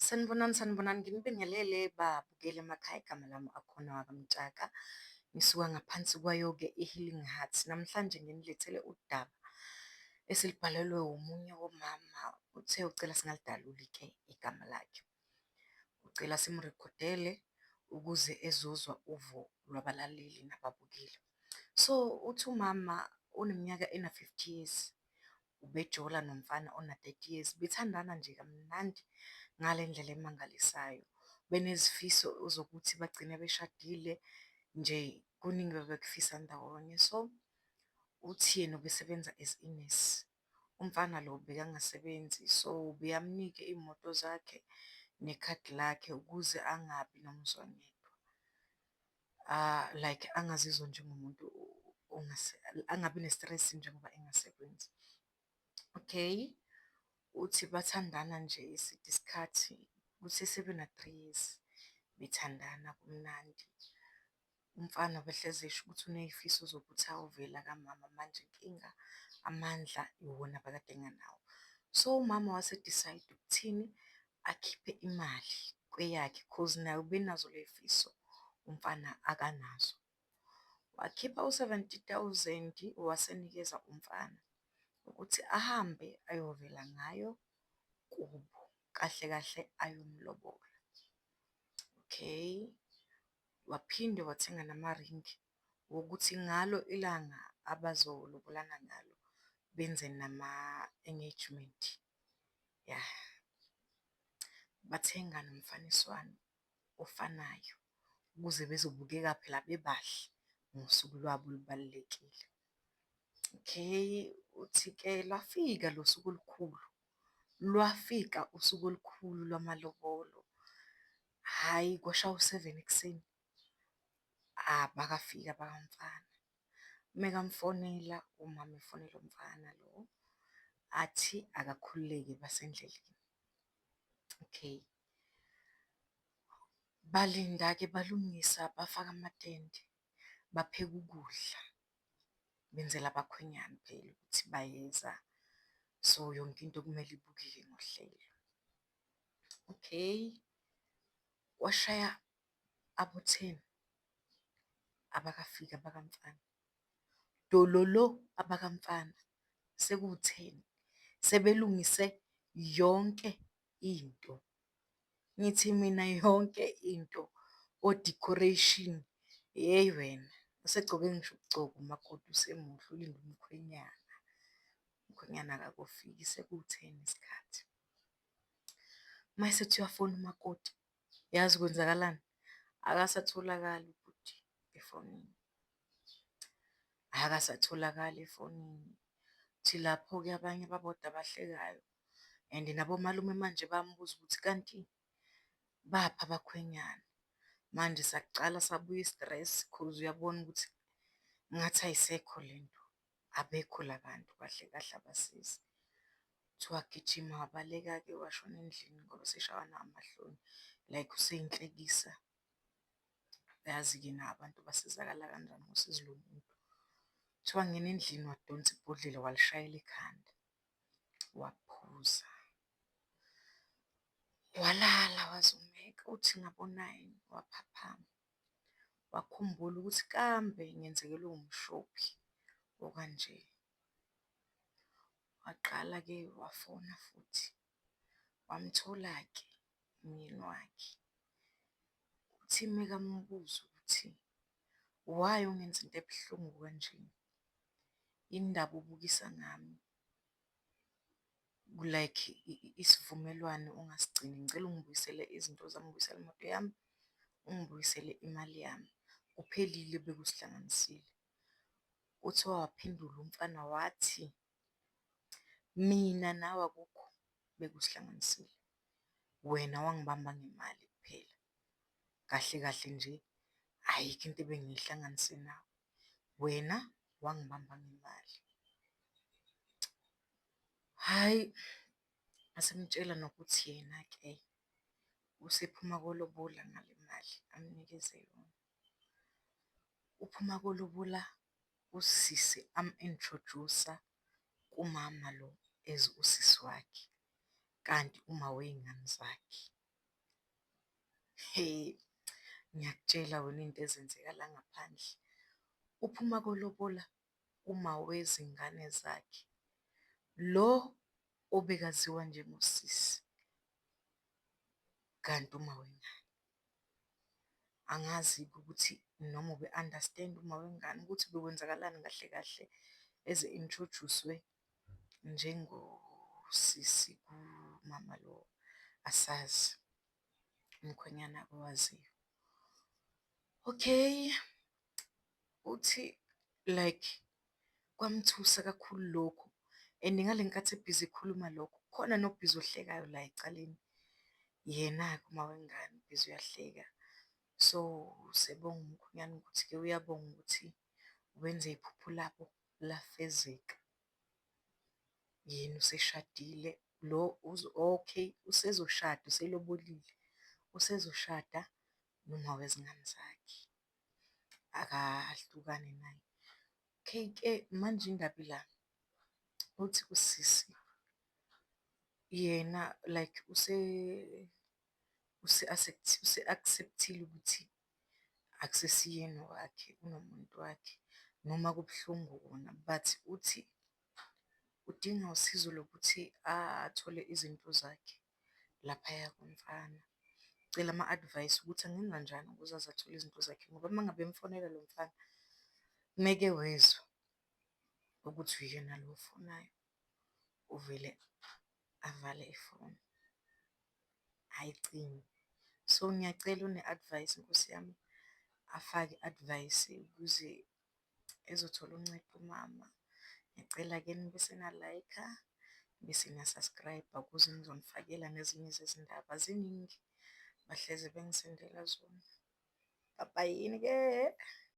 Sanibonani, sanibonani. Nginibingelele babukeli emakhaya, igama lami akhona wakamtshaka. Ngisuka ngaphansi kwayo-ke i-Healing Hearts. Namhlanje nginilethele udaba esilibhalelwe omunye womama uthe ucela singalidaluli-ke igama lakhe. Ucela simrekhodele ukuze ezozwa uvo lwabalaleli nababukeli. So uthi umama uneminyaka ena-fifty years, ubejola nomfana ona-30 years, bethandana nje kamnandi ngale ndlela emangalisayo. Benezifiso zokuthi bagcine beshadile nje, kuningi ababekufisa ndawonye. So, uthi yena ubesebenza as inesi, umfana lo bekangasebenzi so ubeyamnika iy'moto zakhe nekhadi lakhe ukuze angabi nomzwangedwa. Like angazizwa njengomuntu angabi ne-stress njengoba engasebenzi. Okay, uthi bathandana nje eside isikhathi kusesebe na-three years bethandana kumnandi. Umfana ubehlezi esho ukuthi uney'fiso zokuthi ayovela kamama manje inkinga amandla iwona abekade engenawo. So, umama wase-decide-a ukuthini? akhiphe imali kweyakhe coz naye ubenazo ley'fiso umfana akanazo. Wakhipha u-seventy thousand wasenikeza umfana ukuthi ahambe ayovela ngayo kubo, kahle kahle ayomlobola. Okay, waphinde wathenga namaringi wokuthi ngalo ilanga abazolobolana ngalo benze nama-engagement. yah. Bathenga nomfaniswano ofanayo ukuze bezobukeka phela bebahle ngosuku lwabo olubalulekile. Okay, uthi-ke lwafika lo suku olukhulu, lwafika usuku olukhulu lwamalobolo, hhayi kwashawa u-seven ekuseni, abakafiki abaka mfana. Mekamfonela umama efonela umfana lo, athi akakhululeke basendleleni. Okay, balinda-ke balungisa bafaka amatende, bapheke ukudla, benzela abakhwenyana phela ukuthi bayeza, so yonke into kumele ibukeke ngohlelo. Okay, kwashaya abo-ten abakafiki abakamfana. Dololo abakamfana sekuwu-ten, sebelungise yonke into. Ngithi mina yonke into, o-decoration, hheyi wena, usegcoke ngisho ukugcoka umakoti usemuhle ulinde umkhwenyana, umkhwenyana akakofiki sekuwu-ten isikhathi. Uma esethi uyafona umakoti, Yazi kwenzakalani? Akasatholakali ubhuti efonini, akasatholakali efonini. Kuthi lapho-ke abanye baboda abahlekayo and nabomalume manje bayamubuza ukuthi kanti baphi abakhwenyana? Manje saqala sabuya i-stress cause uyabona ukuthi ngathi ayisekho le nto. Abekho la bantu kahle kahle abasizi. Kuthiwa gijima wabaleka-ke washona endlini ngoba useshawa namahloni like useyinhlekisa. Uyazi-ke nawo abantu basizakala kanjani uma usizi lomuntu. Kuthiwa wangena endlini wadonsa ibhodlela walishayela ekhanda, waphuza, walala wazumeka uthi ngabo-nine waphaphama. wakhumbula ukuthi kambe ngenzekelwe umshophi okanje. Waqala-ke wafona futhi wamthola-ke umyeni wakhe. Uthi mekamubuza ukuthi why ungenza into ebuhlungu kanje? Yini ndaba ubukisa ngami? like isivumelwano ungasigcini, ngicela ungibuyisele izinto zami, ungibuyisele imoto yami, ungibuyisele imali yami, kuphelile ebekusihlanganisile. Uthe waphendula umfana wathi, mina nawe akukho ebekusihlanganisile, wena wangibamba ngemali kuphela. Kahle kahle nje ayikho into ebengiyihlanganise nawe, wena wangibamba ngemali. Hhayi, ngase ngimtshela nokuthi yena-ke usephuma kolobola ngale mali amnikeze yona. Uphuma kolobola usisi amu-introduce-a kumama lo as usisi wakhe, kanti umawey'ngane zakhe. Hee, ngiyakutshela wena into ezenzeka la ngaphandle, uphuma kolobola umawezingane zakhe, lo obekaziwa njengosisi kanti umawengane. Angazi-ke ukuthi noma ube-understand-a umawengane ukuthi bekwenzakalani kahle kahle eze inthrojuswe njengosisi kumama lo asazi umkhwenyana owaziyo. Okay, uthi like kwamthusa kakhulu lokhu and ngale nkathi ebhizi ekhuluma lokhu khona nobhizi ohlekayo la ecaleni, yena-ke umama wengane ubhizi uyahleka. So, usebonga umkhwenyana ukuthi-ke uyabonga ukuthi wenze iphupho labo. lafezeka yena useshadile lo okay usezoshada uselobolile usezoshada noma wezingane zakhe akahlukani naye. K_K manje indaba ila uthi usisi yena like use use-accept-ile ukuthi akusesiyena owakhe unomuntu wakhe noma kubuhlungu kona but uthi udinga usizo lokuthi athole izinto zakhe laphaya kumfana. Ucela ama-advice ukuthi angenza njani ukuze aze athole izinto zakhe ngoba uma ngabe emfonela lo mfana ngeke wezwa ukuthi uyena lo ofonayo, uvele avale ifoni. ayicimi. So ngiyacela une-advice nkosi yami afake i-advice ukuze ezothola uncedo umama. Ngiyacela ke nibe senalayikha, nibe sena-subscribe-a ukuze ngizonifakela nezinye zezindaba ziningi bahlezi bengisendela zona. Bye bye-ni ke.